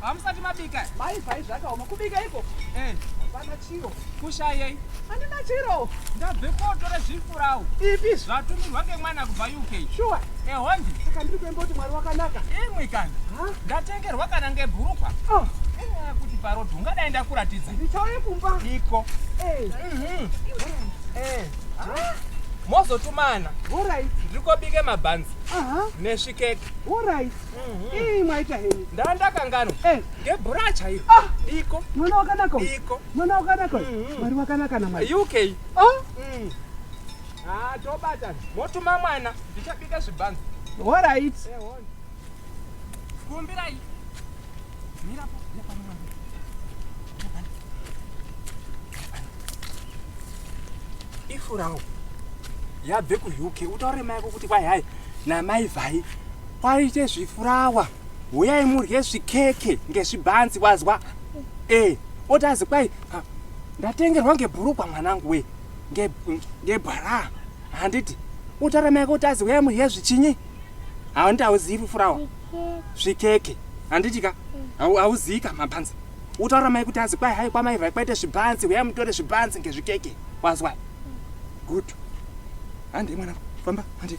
hamusati mabika mai vhai zvakaoma kubika iko eh. hapana chiro kushayei andina chiro ndabve kotora zvifurawu ipi zvatumirwa ngemwana kubva uk shuwa ehondi eh, saka ndiri kuemba kuti mwari wakanaka imwi kana ndatengerwa kana ngebhurukwa oh. eh, kuti parodhi ungadai ndakuratidza ndichauye kumba iko eh. mhm. ah. mozotumana ndikobike mabhanzi nesvikeke Ii mwaita henyu. Ndandakanganwa. Eh. Ngebhura chairo. Ah. Diko. Mwana wakanaka uyu. Diko. Mwana wakanaka uyu. Mm-hmm. Mwari wakanaka na mwari. UK. Oh. Mm. Ah, tobata. Motuma mwana. Ndichabika zvibanzi. All right. Eh, on. Kumbirai. Mira po. Ifurawo. Yabve ku UK. Utaure mai kuti kwai hai. Na mai vai. Kwaite zvifurawa, huyai murye zvikeke ngezvibhanzi wazwa. Eh, otazi kwai ha, ndatengerwa ngebhurugwa mwanangu we. Nge ngebhara. Handiti utaramai kotazi huyai murye zvichinyi? Hawandi hauzivi furawa. Zvikeke. Handiti ka? Hau hauzivi ka mabhanzi. Utaura mai kuti azi kwai hai kwamai vai kwaite zvibhanzi huyai mutore zvibhanzi ngezvikeke. Wazwa? Good. Hande mwana, famba, hande.